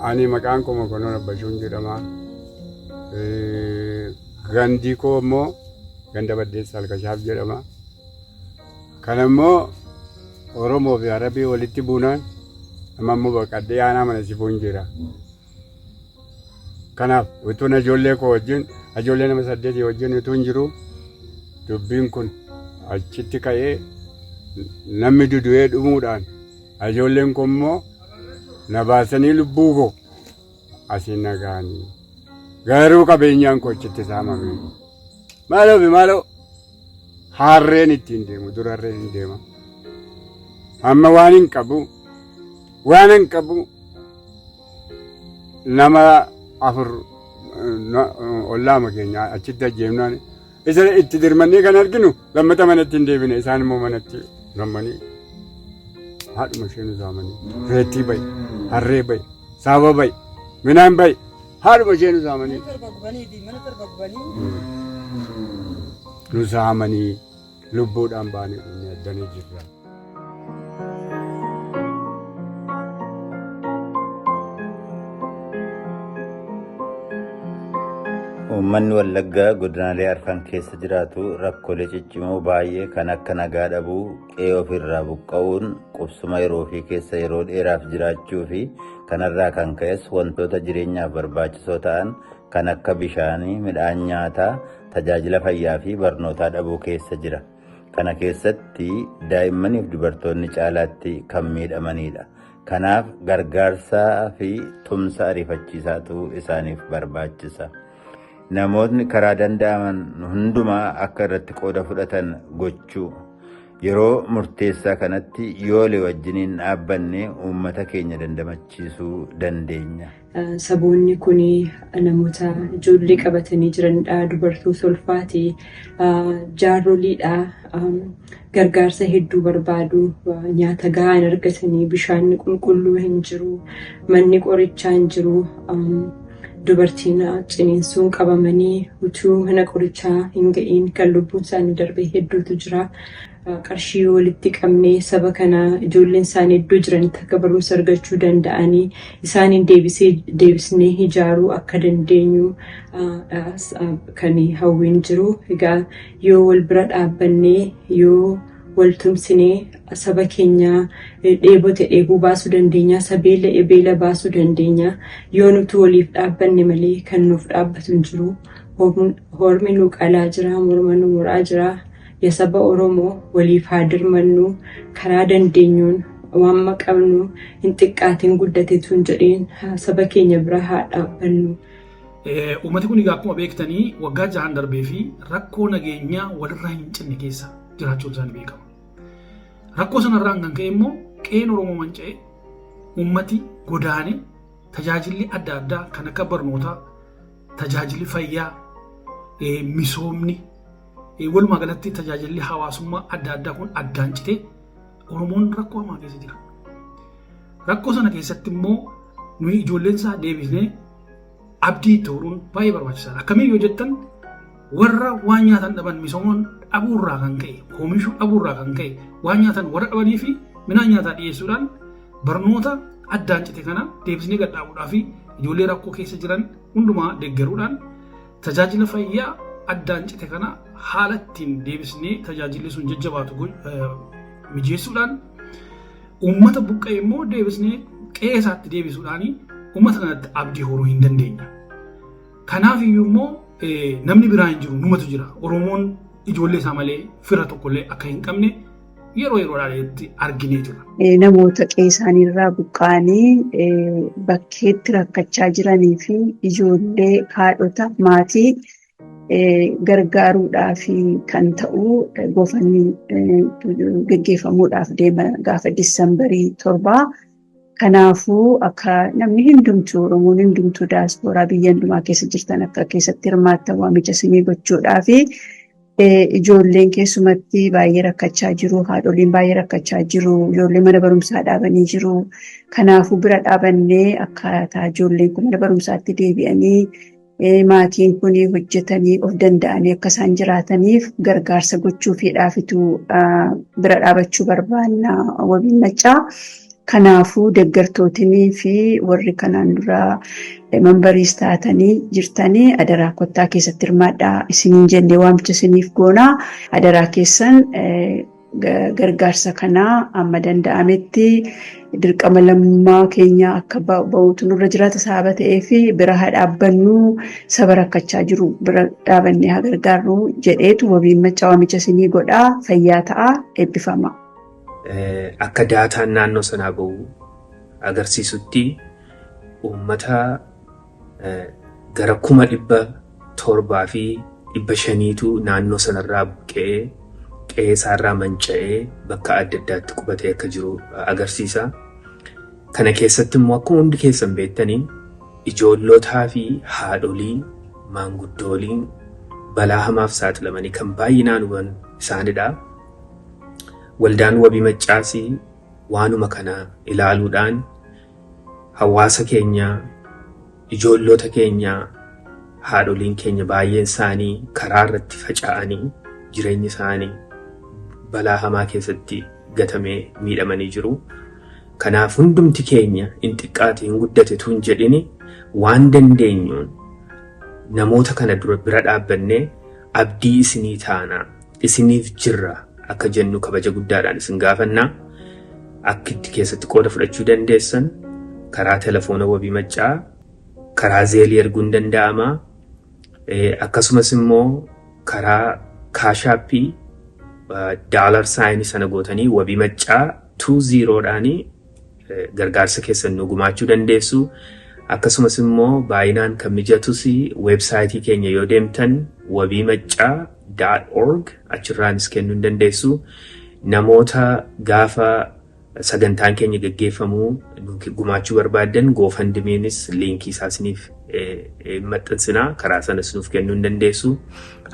Ani maqaan koo Mokonnon Abbashuun jedhama. Gandi koo immoo ganda Baddeessa Alkashaaf jedhama. Kana immoo Oromoo fi Arabii walitti buunaan amma immoo baqadhee aanaa mana sifuun jira. Kanaaf utuun ijoollee koo wajjin ijoollee nama saddeetii wajjin utuun jiru dubbiin kun achitti ka'ee namni dudu'ee dhumuudhaan ijoolleen koo immoo na baasanii lubbuu koo asiin na ga'anii. Garuu qabeenyaan koo achitti saamame. Maaloo fi maaloo Harreen ittiin deemu dura harreen hin deema. Amma waan hin qabu waan hin qabu nama afur ollaama keenya achitti ajjeefnaan isa itti dirmannee kan arginu lammata manatti hin deebine isaan immoo manatti gammanii haadhuma ishee nu saamanii reettii bayi harree bayi saaba bayi midhaan bayi Haadhuma ishee nu saamanii. Mana torba gubanii fi mana torba gubanii. Nu saamanii lubbuudhaan baanee dhumne addanii jirra. Uummanni Wallaggaa godinaalee arfan keessa jiraatu rakkoolee ciccimoo baay'ee kan akka nagaa dhabuu, qe'ee ofiirraa buqqa'uun qubsuma yeroo ofii keessa yeroo dheeraaf jiraachuu fi kanarraa kan ka'es wantoota jireenyaaf barbaachisoo ta'an kan akka bishaanii, midhaan nyaataa, tajaajila fayyaa fi barnootaa dhabuu keessa jira. Kana keessatti daa'immanii fi dubartoonni caalaatti kan miidhamanidha. Kanaaf gargaarsaa fi tumsa ariifachiisaatu isaaniif barbaachisa. Namootni karaa danda'aman hundumaa akka irratti qooda fudhatan gochuu. Yeroo murteessaa kanatti yoole wajjiniin dhaabbanne uummata keenya dandamachiisuu dandeenya. Saboonni kun namoota ijoollee qabatanii jiranidha. Dubartoota ulfaati. Jaarroliidha. gargaarsa hedduu barbaadu. Nyaata gahaa hin argatanii, bishaan qulqulluu hin jiru, manni qorichaa hin jiru. Dubartiin ciniinsuun qabamanii utuu mana qorichaa hin ga'iin kan lubbuun isaanii darbee hedduutu jira. Qarshii walitti qabnee saba kana ijoolleen isaanii iddoo jiranitti akka barumsa argachuu danda'anii isaaniin deebisnee ijaaruu akka dandeenyu kan hawwiin jiru. Egaa Yoo wal bira dhaabbannee, yoo wal tumsinee saba keenya dheebote dheebuu baasuu dandeenya, sa beela'e beela baasuu dandeenya. Yoo nutu waliif dhaabbanne malee kan nuuf dhaabbatu hin jiru. Hormi nu qalaa jira, morma nu muraa jira. Ya saba Oromoo waliif haa dirmannu, karaa dandeenyuun waanma qabnu hin xiqqaatiin guddatetu hin jedhiin saba keenya bira haa dhaabbannu. Uummati kun egaa akkuma beektanii waggaa jahan darbee fi rakkoo nageenyaa walirraa hin cinne keessa jiraachuun isaanii beekama. Rakkoo sanarraan kan ka'e immoo qe'een Oromoo manca'e uummati godaane tajaajilli adda addaa kan akka barnootaa, tajaajilli fayyaa, misoomni, walumaa galatti tajaajilli hawaasummaa adda addaa kun addaan citee Oromoon rakkoo hamaa keessa jira. Rakkoo sana keessatti immoo nuyi ijoolleen isaa deebisnee Abdii itti horuun baay'ee barbaachisaadha. Akkamiin yoo jettan warra waan nyaatan dhaban misoomoon dhabuurraa kan ka'e oomishuu dhabuurraa kan ka'e waan nyaatan warra dhabanii fi midhaan nyaataa dhiyeessuudhaan barnoota addaan cite kana deebisnee gadhaabuudhaa fi ijoollee rakkoo keessa jiran hundumaa deeggaruudhaan tajaajila fayyaa addaan cite kana haala ittiin deebisnee tajaajilli sun jajjabaatu mijeessuudhaan Uummata buqqa'e immoo deebisnee qe'ee isaatti deebisuudhaan uummata kanatti abdii horuu hin dandeenya. Kanaaf iyyuu immoo namni biraa hin jiru numatu jira. Oromoon ijoollee isaa malee fira tokkollee akka hin qabne yeroo yeroodhaatti arginee jira. Namoota qe'ee isaanii irraa buqqa'anii bakkeetti rakkachaa jiranii fi ijoollee haadhota maatii gargaaruudhaaf kan ta'u gofanni geggeeffamuudhaaf deema gaafa diisambarii torbaa. Kanaafuu akka namni hundumtuu Oromoon hundumtuu daaspooraa biyya hundumaa keessa jirtan akka keessatti hirmaattan waamicha isinii gochuudhaaf ijoolleen keessumatti baay'ee rakkachaa jiru haadholiin baay'ee rakkachaa jiru ijoollee mana barumsaa dhaabanii jiru kanaafuu bira dhaabannee akkaataa ijoolleen kun mana barumsaatti deebi'anii maatiin kun hojjetanii of danda'anii akka isaan jiraataniif gargaarsa gochuufiidhaafitu bira dhaabachuu barbaanna wabiin maccaa. Kanaafuu deeggartootinii fi warri kanaan dura mambariis taatanii jirtanii adaraa kottaa keessatti hirmaadhaa isiniin jennee waamicha isiniif goonaa adaraa keessan gargaarsa kanaa amma danda'ametti dirqama lammummaa keenya akka ba'uutu nurra jiraata sababa ta'eef bira haa dhaabbannu saba rakkachaa jiru bira dhaabannee haa gargaarru jedheetu wabiin maccaa waamicha isinii godhaa fayyaa ta'a eebbifama. Akka daataan naannoo sanaa bahu agarsiisutti uummata gara kuma dhibba torbaa fi dhibba shaniitu naannoo sanarraa buqqa'ee qe'ee isaarraa manca'ee bakka adda addaatti qubatee akka jiru agarsiisa. Kana keessatti immoo akkuma hundi keessan beektaniin ijoollotaa fi haadholii maanguddooliin balaa hamaaf saaxilamanii kan baay'inaan huban isaanidha. Waldaan wabii maccaasii waanuma kana ilaaluudhaan Hawaasa keenya, ijoolloota keenya, haadholiin keenya baay'een isaanii karaa irratti faca'anii jireenyi isaanii balaa hamaa keessatti gatamee miidhamanii jiru. Kanaaf hundumti keenya in xiqqaate in guddate utuu hin jedhini waan dandeenyuun namoota kana dura bira dhaabbannee abdii isinii taanaa isiniif jirra akka jennu kabaja guddaadhaan isin gaafanna. Akki itti keessatti qooda fudhachuu dandeessan karaa telefoona wabii maccaa karaa zeelii erguun danda'ama. Akkasumas immoo karaa kaashaappii daalar saayinii sana gootanii wabii maccaa 20 dhaanii gargaarsa keessan nu gumaachuu dandeessu. Akkasumas immoo baay'inaan kan mijatus weebsaayitii keenya yoo deemtan wabii maccaa dot org achirraanis kennuu hin dandeessu. Namoota gaafa sagantaan keenya gaggeeffamu nu gumaachuu barbaaddan goofandimiinis liinkii isaa isiniif maxxansina karaa sanas nuuf kennuu hin dandeessu.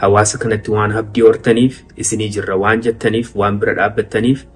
Hawaasa kanatti waan abdii hortaniif isinii jirra waan jettaniif waan bira dhaabbattaniif